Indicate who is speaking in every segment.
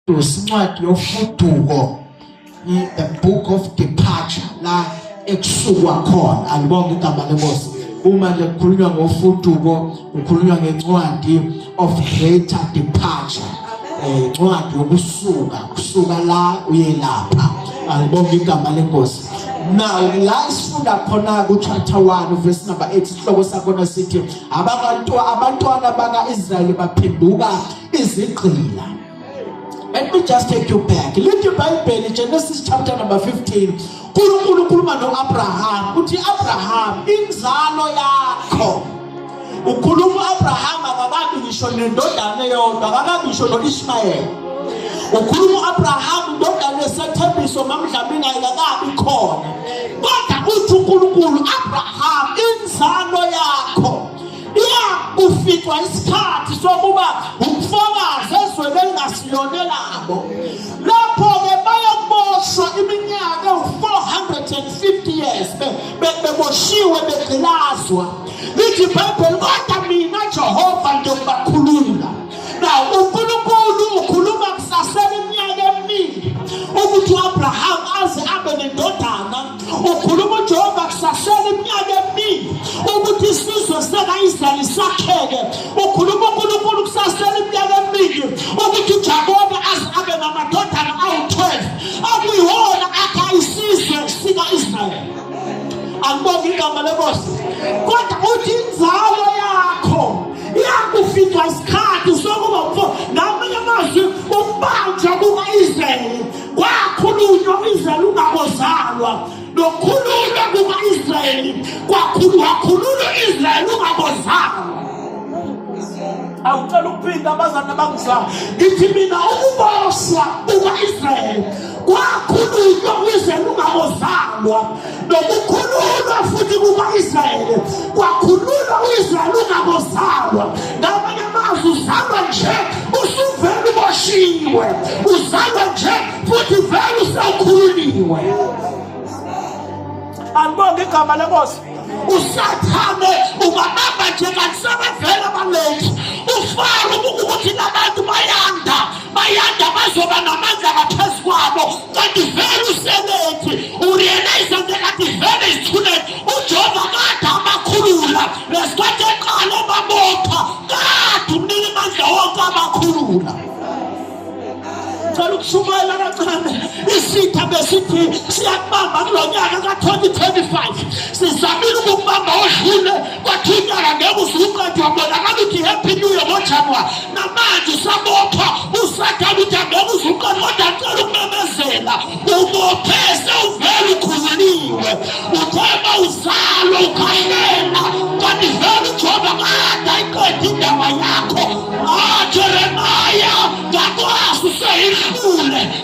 Speaker 1: Usincwadi yofuduko the book of departure la ekusukwa khona alibonge igama lenkosi uma nje kukhulunywa ngofuduko kukhulunywa ngencwadi of greater departure eh incwadi yokusuka kusuka la uye lapha alibonge igama lenkosi now la sifunda khona ku chapter 1 verse number 8 isihloko sakhona sithi abantu abantwana baka Israel baphenduka izigqila let me just take you back lithi ibhayibheli genesis chapter number 15 unkulunkulu ukhuluma no-abraham uthi abraham inzalo yakho ukhuluma u-abraham akakabi ngisho nendodana eyodwa akakabi ngisho no-ishmayeli ukhuluma u-abraham indodana esethembiso mamdlamini ayikakabi khona kodwa uthi unkulunkulu abraham inzalo yakho Uma kufikwa isikhathi sokuba umfakazi ezweni elingasilona elabo, lapho-ke bayokuboshwa iminyaka ewu-450 years beboshiwe begqilazwa. Lithi iBhayibheli, kodwa mina Jehova ngiyokubakhulula. Now, uNkulunkulu ukhuluma kusasela iminyaka eminingi ukuthi u-Abraham aze abe nendoda ukhuluma ujehova kusasele iminyaka eminingi ukuthi isizwe sekaisrayeli sakheke ukhuluma unkulunkulu kusasele iminyaka eminingi ukuthi ujakobe aze abe namadodana awu-12 akuyiwona akha isizwe sika-israyeli angibonge igama lenkosi kodwa uthi inzalo yakho iyakufika isikhathi sokuba mfo ngamanye amazwi ukubanjwa kuka-israyeli kwakhulunywa u-israyeli ungabozalwa nokhululwa kuka-israyeli wakhululwa u-israyeli ungabozalwa awucela ukuphinda abazali abangizalwa ngithi mina ukuboshwa kuka-israyeli kwakhulunywa u-israyeli ungabozalwa nokukhululwa futhi kuka-israyeli kwakhululwa u-israyeli ungabozalwa ngamanye amazwi uzalwa nje usuvele uboshiwe uzalwa nje futhi vele usawukhululiwe alibonge igama lenkosi usathane ungabamba nje kanti sebevele abalenzi ufaro ukuthi labantu bayanda bayanda bazoba namandla ngaphezu kwabo kanti vele usebenzi urealize nje kanti vele izithulele ujehova kade abakhulula lesikhathi eqala obabopha kade umnike amandla wonke abakhulula ngicela ukushumayela kancane isitha besithi siyakubamba kulo nyaka ka-2025 sizamile ukukubamba odlule kwathintana ngeke uzuqedwe wabonakala ukuthi happy new year ngojanuwari namanje usabopha usathane ukuthi angeke uzuqedwe kodwa acela ukumemezela ubophe sewuvele ukhululiwe uthema uzalwa ukhalela kanti vele ujoba kade ayiqeda indaba yakho ajeremaya ngakwazi useyihlule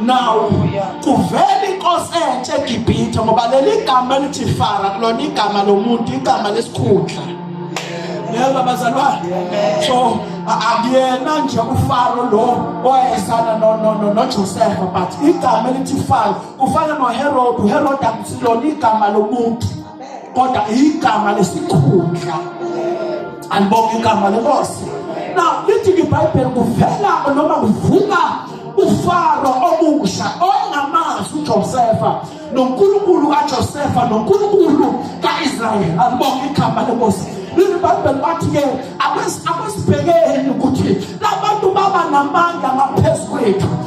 Speaker 1: nawo kuvela inkosi entsha egibhithe ngoba leli gama elithi fara kulona igama lomuntu igama lesikhundla yebo bazalwane so akuyena nje ufaro lo owayesana nojosefa but igama elithi faro kufana noherode uherode akusilona igama lomuntu kodwa igama lesikhundla alibonga igama lenkosi na lithi ibhayibheli kuvela noma kuvuka ufaro omusha ongamazi ujosefa nonkulunkulu kajosefa nonkulunkulu ka-israyeli alibonga igama lenkosi leli bhayibheli bathi-ke akwesibhekeni ukuthi labantu baba namandla ngaphezu kwethu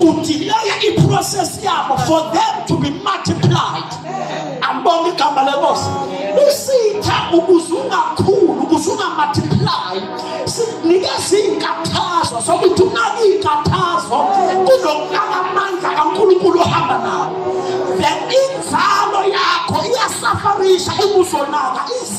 Speaker 1: udileya iprocess yabo for them to be multiplied ambonga igama lenkosi isitha ukuze ungakhulu ukuze ungamultiply sinikeza iy'nkathazo sokuthi unake iy'nkathazo kunokunaka amandla kankulunkulu ohamba nawo then inzalo yakho iyasafarisha ubuzonaka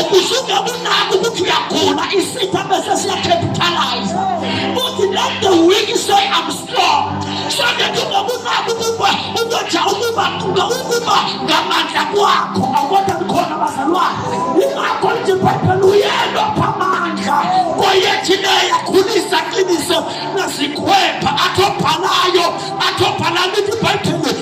Speaker 1: ukusuke kunako ukuthi uyagula isitha bese siyacapitalize uthi let the weak say i'm strong so that ungakunako ukuba ukoja ukuba ukuba ngamandla kwakho akwona khona bazalwane ingakho nje bhayibheli uyelwa phamandla koyethine yakhulisa qiniso nazikhwepha athobhalayo athobhala lithi bhayibheli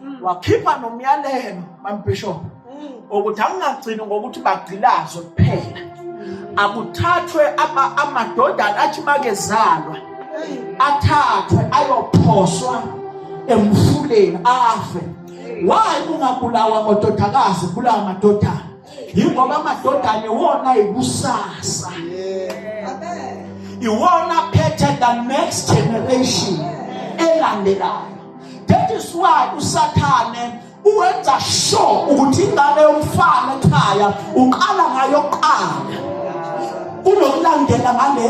Speaker 1: mm. wakhipha nomyalelo mambishop mm. ukuthi angingagcini ngokuthi bagcilazwe kuphela mm. akuthathwe amadodana athi makezalwa athathwe ayophoswa emfuleni afe wayi ungabulawa amadodakazi bulawa amadodana yingoba amadodana iwona ikusasa iwona phethe the next generation elandelayo that is why usathane uwenza sure ukuthi ingane yomfana ekhaya uqala ngayo kuqala kunokulandela ngale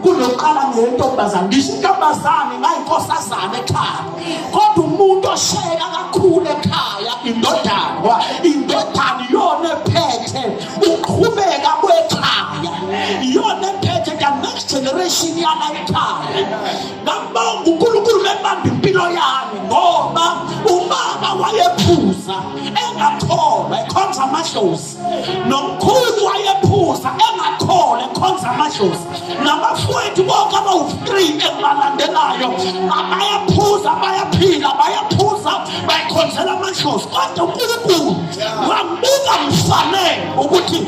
Speaker 1: kunokuqala ngentombazane ngisho intombazane ngayinkosazane ekhaya kodwa umuntu oshayeka kakhulu ekhaya indodana indodana iyona ephethe uqhubeka kwekhaya iyona ephethe the next generation yala ekhaya ngambonga unkulunkulu bebamba impilo yami ngoba umama wayephuza engakholwa ekhonza amadlozi nomkhulu wayephuza engakholwa ekhonza amadlozi nabafowethu bonke abawu-three engibalandelayo bayaphuza bayaphila bayaphuza bayikhonzela amadlozi kodwa unkulunkulu wambuka mfanele ukuthi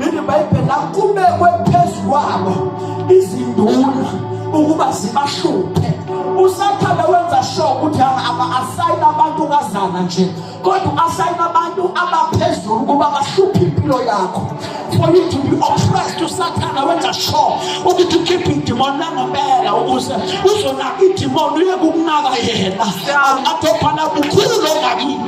Speaker 1: Leli Bhayibheli la kubekwe phezu kwabo izinduna ukuba zibahluphe. USathane wenza sure ukuthi asayina abantu kazana nje kodwa asayina abantu abaphezulu ukuba bahluphe impilo yakho for you to be oppressed usathana wenza sure ukuthi ukhiphe idimoni langempela ukuze uzonaka idimoni uye kukunaka yena athophana bukhulu longakini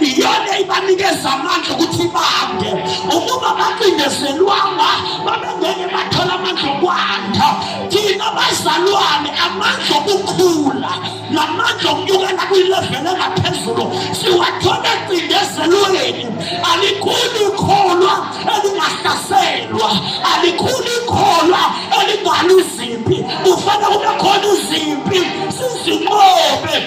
Speaker 1: iyona ibanikeza amandla ukuthi bande ukuba bacindezelwanga babengeke bathola amandla okwanda thina bazalwane amandla okukhula namandla okunyukela kwilevele engaphezulu siwathole ecindezelweni alikhulu ikholwa elingahlaselwa alikhulu ikholwa elingaluzimpi kufanele kube khona uzimpi sizinqobe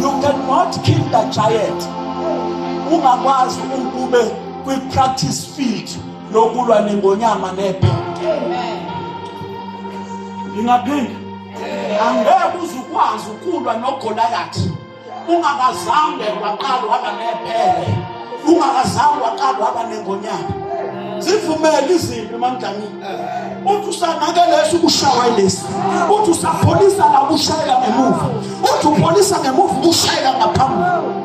Speaker 1: You cannot kill the giant. Ungakwazi ukube kwi practice field lokulwa nengonyama nephe. Amen. Ngingaphinda. Angeke uzukwazi ukulwa noGoliath. ungakazange waqala uhamba nephele ungakazange waqala uhamba nengonyama zivumele izimpi emandlamini uthi usanakelesha ukushawa ilesi uthi usapholisa la ukushayela ngemuva uthi upholisa ngemuva ukushayela ngaphambili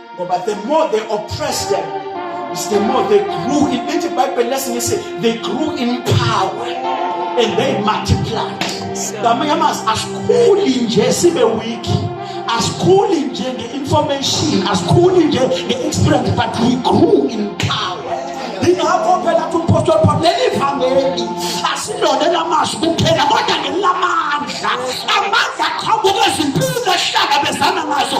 Speaker 1: ngoba the more they oppressed them is the more they grew in lithi ibhayibheli lesingisi they grew in power and they multiplied ngamanye amazwi asikhuli nje sibe weak asikhuli nje nge-information asikhuli nje nge-experience but we grew in power ingakho phela kuthi umpostoli paul leli vangeli asilona elamazwi kuphela kodwa ngelamandla amandla aqhamuka ezimpini ehlangabezana nazo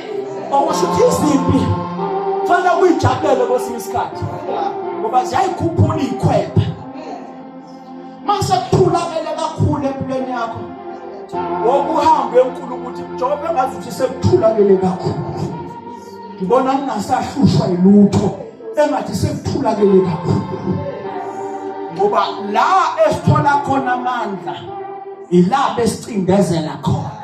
Speaker 1: okusho ukuthi izimpi kufanele kuyijabulele kwesinye isikhathi ngoba ziyayikhuphula iyikhwepha masekuthulakele kakhulu empilweni yakho wokuhambe enkulu ukuthi njengoba engazi ukuthi sekuthulakele kakhulu ngibona ngingasahlushwa yilutho engathi sekuthulakele kakhulu ngoba la esithola khona amandla ilapho esicindezela khona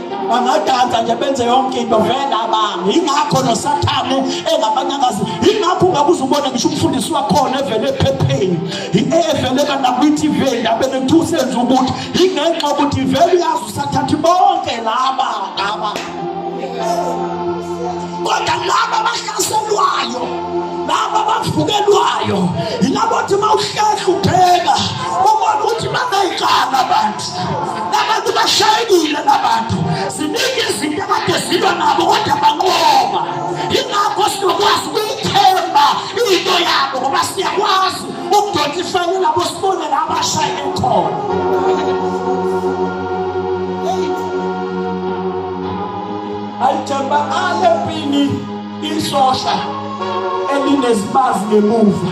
Speaker 1: bangadansa nje benze yonke into vele abantu yingakho nosathane engabanyakazi yingakho ungakuze ubone ngisho umfundisi wakhona evele ephepheni evele kanakwi-tv endabeni kuthiwa usenza ukuthi yingenxa ukuthi vele uyazi usathathi bonke laba laba kodwa laba abahlaselwayo laba abavukelwayo yilabo othi uma uhlehla ubheka ubona ukuthi baneyicala abantu Abantu bashayekile labantu. Ziningi izinto abade zilwa nabo kodwa banqoba. Yingakho sinokwazi ukuyithemba into yabo ngoba siyakwazi ukudonsa ifele labo sibone la bashayeke khona. Ayithemba ale mpini isosha elinezibazi ngemuva.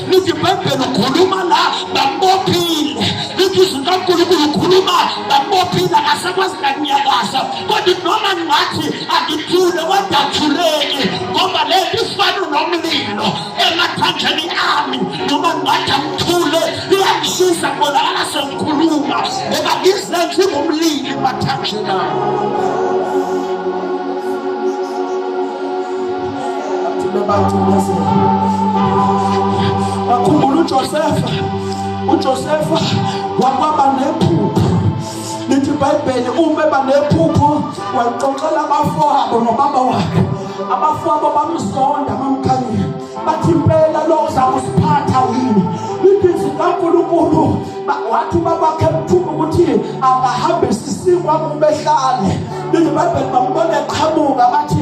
Speaker 1: lithi ibhayibheli ukhuluma la bambophile lithi izwi kankulunkulu ukhuluma bambophile akasakwazi nakunyakaza kodwa noma ngathi angithule kodwa athuleki ngoba le nto ifana nomlilo emathanjeni ami noma ngathi angithule iyangishisa kubonakala sengikhuluma ngoba ngizenze ngomlilo emathanjeni ami bakhumbula uJosefa uJosefa wakwaba nephupho lithi ibhayibheli uma eba nephupho walixoxela abafowabo nobaba wakhe abafowabo bamzonda bamkhanyile bathi impela lo uza kusiphatha yini ibhizi kankulunkulu wathi ubakwakhe mthuma ukuthi akahambe sisikwa kubehlale lithi ibhayibheli bambona eqhamuka bathi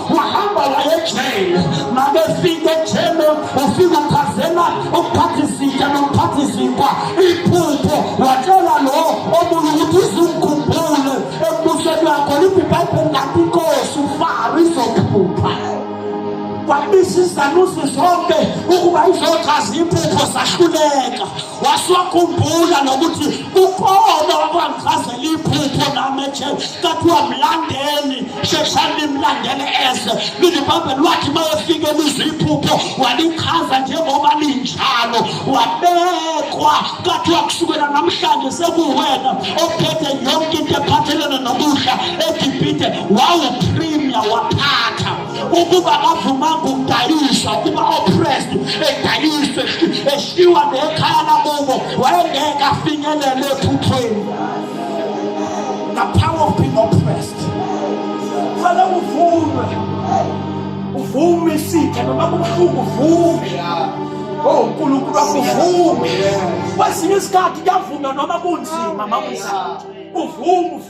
Speaker 1: wahamba wayejele makefika ejele ufika ukhazela ukuphatha izitsha nokuphatha izinkwa iphupho watshela lo omunye ukuthi izungikhumbule ekubuseni wakho liphi ibhayibheli ngathi inkosi ufaro izokuphupha kwabisa izanusi zonke ukuba izochaza iphupho sahluleka wasiwakhumbula nokuthi ukhona wakwangizazela iphupho nami ethe kathiwa mlandeni sheshani limlandele ese lilibambeni wathi uma efike lizwa iphupho walichaza njengoba linjalo wabekwa kathiwa kusukela namhlanje sekuwena ophethe yonke into ephathelene nokudla egibhide wawupremia waphatha ukuba bavumanga ukudayiswa ukuba oppressed edayiswe eshiwa nekhaya lakubo wayengeke afinyelele ephuthweni the power of being oppressed fana uvume uvume isitha noma kubuhlungu uvume Oh uNkulunkulu akuvume. Kwesinye isikhathi kuyavunywa noma kunzima makunjalo. Uvume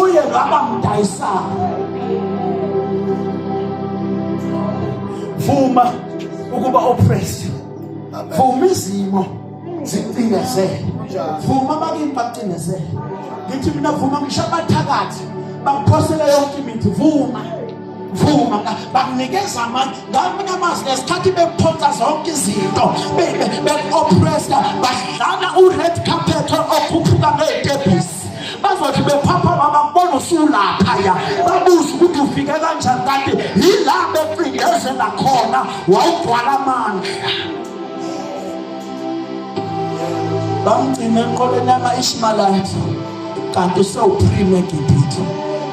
Speaker 1: uye lwabamdayisayo vuma ukuba oppressed vuma izimo zicindezele vuma abakini bacindezele ngithi mina vuma ngisho abathakathi bakuphosele yonke imithi vuma vuma bakunikeza amandla ngamanye amazwi ngesikhathi bekuphonsa zonke izinto beku-oppressa badlala u-red carpet okhuphuka ngey'tebhisi bazothi bephaphama bakubona usulaphaya babuze ukuthi ufike kanjani kanti yila becindezela khona wawugcwala amandla bamgcina enqoleni yama-ishmalayithi kanti usewuphime egibhithe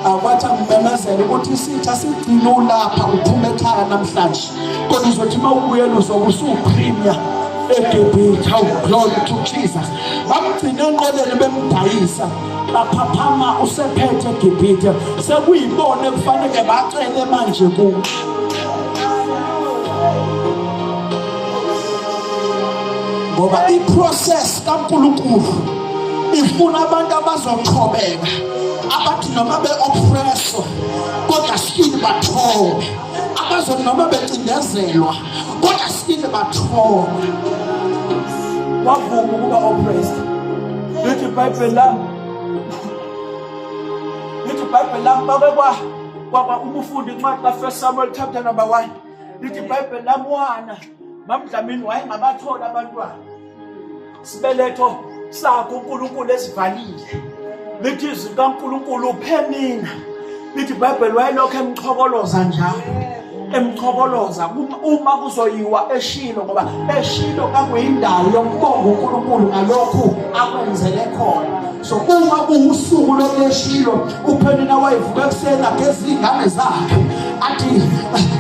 Speaker 1: akwathi angimemezele ukuthi isitha sigcine ulapha uphuma ekhaya namhlanje kodwa uzothi uma ubuyela uzobe usuwuphrinya egibhithe awu glory to jesus bamgcina enqoleni bemdayisa baphaphama usephethe egibhithe sekuyibona ekufanele bacele manje ku ngoba iprocess kankulunkulu ifuna abantu abazochobeka abathi noma be-oppresswa kodwa still bathobe abazothi noma becindezelwa kodwa sibile bathola wavuma ukuba oppressed lithi ibhayibheli lami lithi ibhayibheli lami babe kwa kwaba umufundi incwadi kafirst samuel chapter number one lithi ibhayibheli lami wana mamdlamini wayengabatholi abantwana sibeletho sakho uNkulunkulu esivalile lithi izwi likaNkulunkulu uphe mina lithi ibhayibheli wayelokhu emchokoloza njalo emchokoloza uma kuzoyiwa eshilo ngoba eshilo kakuyindawo yokubonga uNkulunkulu ngalokhu akwenzele khona so uma kuwusuku lokeshilo uphenina wayevuka ekuseni ageza iy'ngane zakhe athi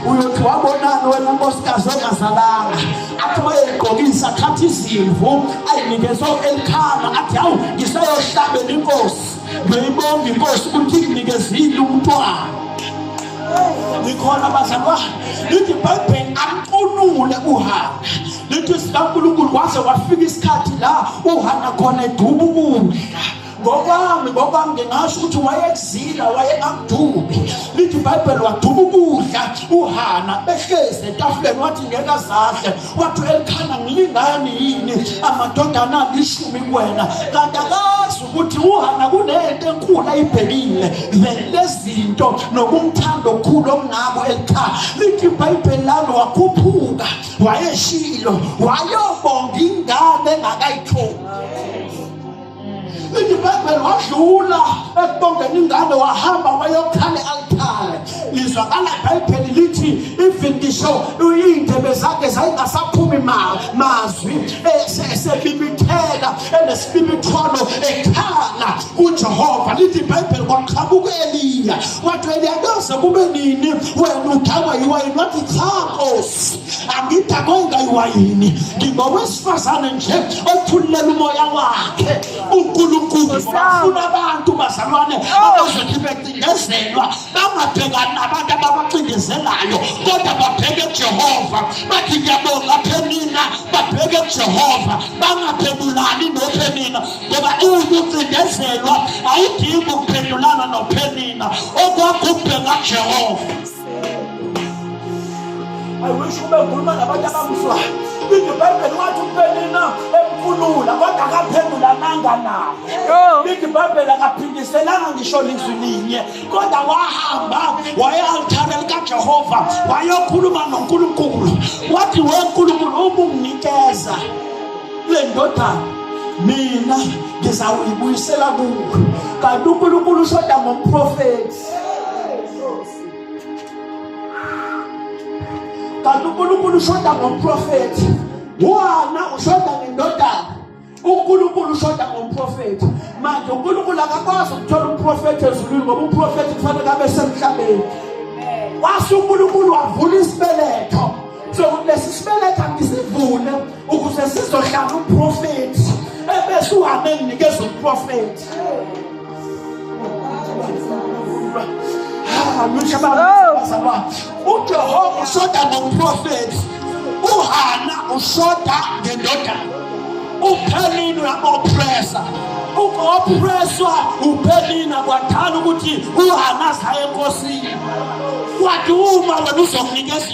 Speaker 1: uyothi wabonani wena nkosikazi ongazalanga athi uma yeyigqokisa athatha izimvu ayinikezwa elikhana athi hawu ngiseyohlabela inkosi ngiyibonga inkosi ukuthi nginikezile umntwana ngikhona bazalwane lithi ibhayibheli amcunule uhambe lithi sikankulunkulu kwaze kwafika isikhathi la uhana khona eduba ukudla ngokwami ngokwami ngingasho ukuthi wayekuzila wayengakudubi lithi ibhayibheli waduba ukudla uhana behlezi etafuleni wathi ngeke azahle wathi elikhana ngilingani yini amadodana alishumi kuwena kanti akazi ukuthi uhana kunento enkulu ayibhekile lezinto nokumthanda okukhulu okungako elikhana lithi ibhayibheli lami wakhuphuka wayeshilo wayobonga ingane engakayitholi indibhebhele wadlula ekubongeni ingane wahamba wayokhala e-altare lizwakala ibhayibheli lithi even ngisho iy'ndebe zakhe zayingasaphumi mazwi eh, sebibitheka enesibibithwano ekhala kujehova lithi ibhayibheli kwaqhamuka eliya wathi eliya kuze kube nini wena udakwa yiwayini wathi cha nkosi angidakwenda iwayini ngingowesifazane nje othululela umoya wakhe unkulunkulu bafuna abantu bazalwane oh. abazothi becindezelwa bangabhekani nabantu ababacindezelayo kodwa babheke jehova bathi ngiyabonga phenina babheke jehova bangaphendulani nophenina ngoba uwukucindezelwa awudingi ukuphendulana nophenina okwakho ukubheka jehova I wish kube ngikhuluma nabantu abamzwayo. IBhayibheli wathi uPenina emkhulula kodwa akaphendula amanga nawo. IBhayibheli akaphindiselanga ngisho lizwi linye kodwa wahamba waya altare likaJehova wayokhuluma noNkulunkulu. Wathi we Nkulunkulu ubunginikeza le ndodana mina ngizawuyibuyisela kuwe. Kanti uNkulunkulu ushoda ngomprofethi. kanti uNkulunkulu ushoda ngomprofethi wona ushoda ngendodana uNkulunkulu ushoda ngomprofethi manje uNkulunkulu akakwazi ukuthola umprofethi ezulwini ngoba umprofethi kufanele abe semhlabeni wase uNkulunkulu wavula isibeletho sokuthi lesi sibeletho angisivule ukuze sizohlala umprofethi ebese uhambe nginikeza umprofethi ujehova ushoda ngomprofethi uhana ushoda ngendodana uphelini uyabopresa ukopreswa uphelina kwadala ukuthi uhana saye enkosini kwathi uma wena uzokunikeza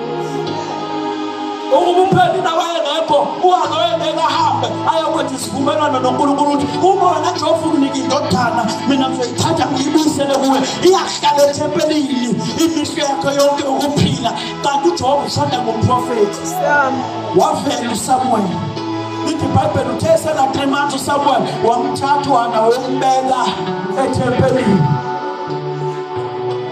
Speaker 1: ukumphendula wayengekho uhambe wayengeke ahambe ayokwenza isivumelwano nonkulunkulu ukuthi uma wena nje ofukunika indodana mina ngizoyithatha ngiyibuyisele kuwe iyahlala ethempelini imihlo yakho yonke ukuphila kanti ujehova ushada ngomprofethi wavela usamuweli lithi ibhayibheli uthe esena-three months usamuweli wamthatha uhana wombeka ethempelini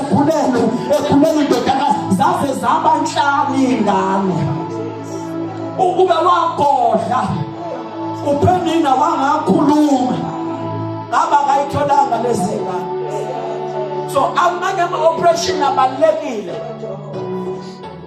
Speaker 1: ekhulelwe ekhulelwe indodakazi zaze zaba nhlanu iy'ngane ukube wagodla uphenina wangakhuluma ngaba kayitholanga lezi ngane so amanye ama-operation abalulekile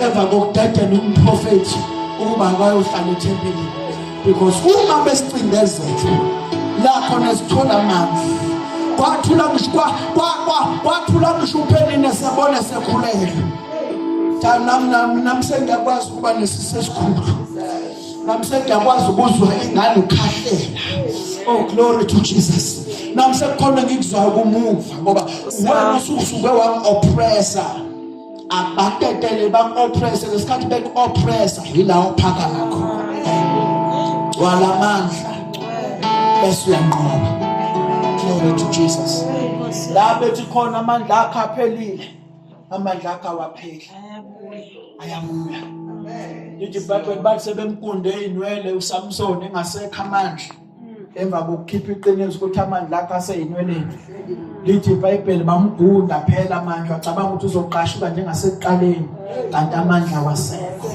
Speaker 1: emva kokudedela umprofethi ukuba akayohlala ethempelini because uma besicindezela la khona sithola amanzi kwathula ngisho kwathula ngisho uphenine sebona sekhulele nam sengiyakwazi ukuba nesisi esikhulu nam sengiyakwazi ukuzwa ingane ukhahlela oh glory to jesus nam sekukhona ngikuzwayo kumuva ngoba wena usuke wam-oppressa abatetele baku-oppresse ngesikhathi beku-oppressa yila ophaka lakho gcwala amandla bese uyanqoba glory to jesus la bethi khona amandla akho aphelile amandla akho awapheli ayabuya ithi ibhayibheli bathi sebemkunde inwele usamsoni engasekho amandla emva kokukhipha iqiniso ukuthi amandla akhe aseyinweleni lithi ibhayibheli bamgunda phela manje wacabanga ukuthi uzoqashuka njengasekuqaleni kanti amandla wasekho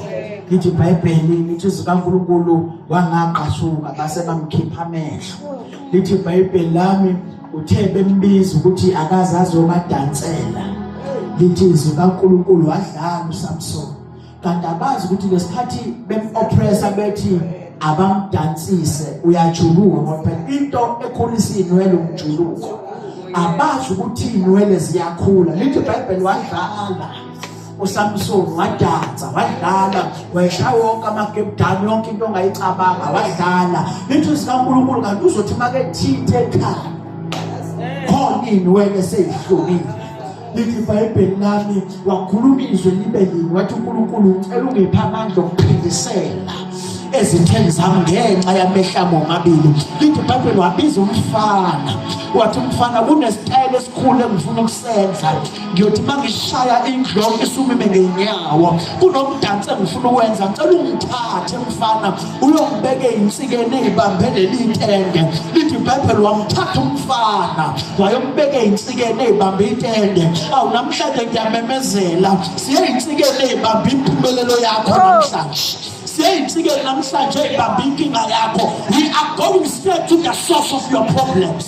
Speaker 1: lithi ibhayibheli lithi zikaNkuluNkulu wangaqashuka base bamkhipha amehlo lithi ibhayibheli lami uthe bembiza ukuthi akazazi obadansela lithi izwi kaNkuluNkulu wadlala uSamson kanti abazi ukuthi ngesikhathi bemoppressa bethi abamdansise uyajuluka ngoba phela into ekhulisa inwele umjuluko abazi ukuthi inwele ziyakhula lithi iBhayibheli wadlala uSamson wadansa wadlala wayishaya wonke amagebdani yonke into ongayicabanga wadlala lithi sikaNkulunkulu kanti uzothi makethithe ekhaya khona inwele seyihlobile lithi ibhayibheli lami wakhuluma izwi libe linye wathi unkulunkulu ucela ungipha amandla okuphindisela ezitheni zami ngenxa yamehlamo omabili lithi ibhayibheli wabiza umfana wathi umfana kunesitayela esikhulu engifuna ukusenza ngiyothi uma ngishaya indloko isumime ngenyawo kunomdansi engifuna ukwenza ngicela ungithathe mfana uyombeka eyinsikeni eyibambe leli tende lithi ibhayibheli wamthatha umfana wayombeka eyinsikeni eyibambe itende awu namhlanje ngiyamemezela siyeyinsikeni eyibambe impumelelo yakho oh. namhlanje siyeyinsikeni namhlanje eyibambe inkinga yakho we are going straight to the source of your problems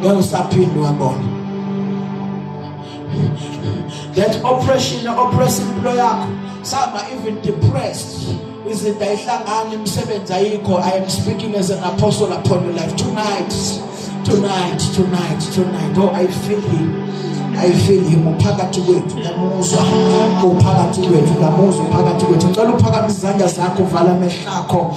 Speaker 1: ngeke usaphinde wabona that oppression oppress impilo yakho saba even depressed izinto ayihlangani imisebenzi ayikho i am speaking as an apostle upon your life tonight tonight tonight tonight oh i feel him I feel him uphakathi kwethu namuzwa uphakathi kwethu namuzwa uphakathi kwethu ngicela uphakamise izandla zakho vala amehlo akho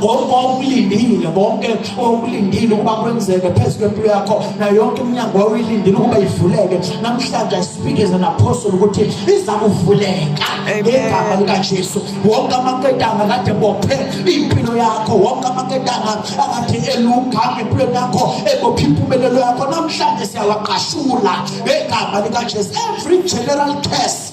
Speaker 1: konke wawukulindile konke wawukulindile ukuba kwenzeke phezu kwempilo yakho nayo yonke iminyango wawuyilindile ukuba ivuleke namhlanje i speak as an apostle ukuthi iza kuvuleka ngegama likajesu wonke amaketanga kade bophe impilo yakho wonke amaketanga akade eluga empilweni yakho ebophe impumelelo yakho namhlanje siyawaqashula ngegama likajesu every general case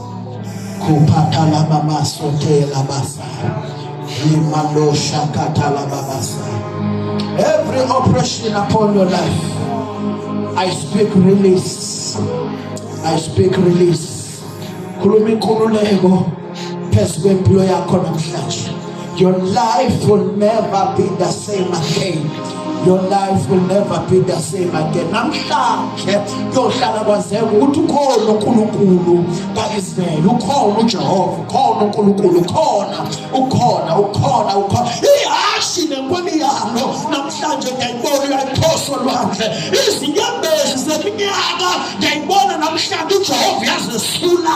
Speaker 2: kuphatala baba sotela basa
Speaker 1: imalosha katala babasa every oppression upon your life I speak release I speak release khuluma inkululeko phezu kwempilo yakho namhlanje Your life will never be the same again. Your life will never be the same again. Namhlanje kuyohlala kwazeka ukuthi ukhona uNkulunkulu kaIsrael, ukhona uJehova, ukhona uNkulunkulu, ukhona, ukhona, ukhona, ukhona. Ihashi nenkoni yalo namhlanje ngiyayibona uyayiphosa olwandle. Izinyembezi zeminyaka ngiyayibona namhlanje uJehova yazesula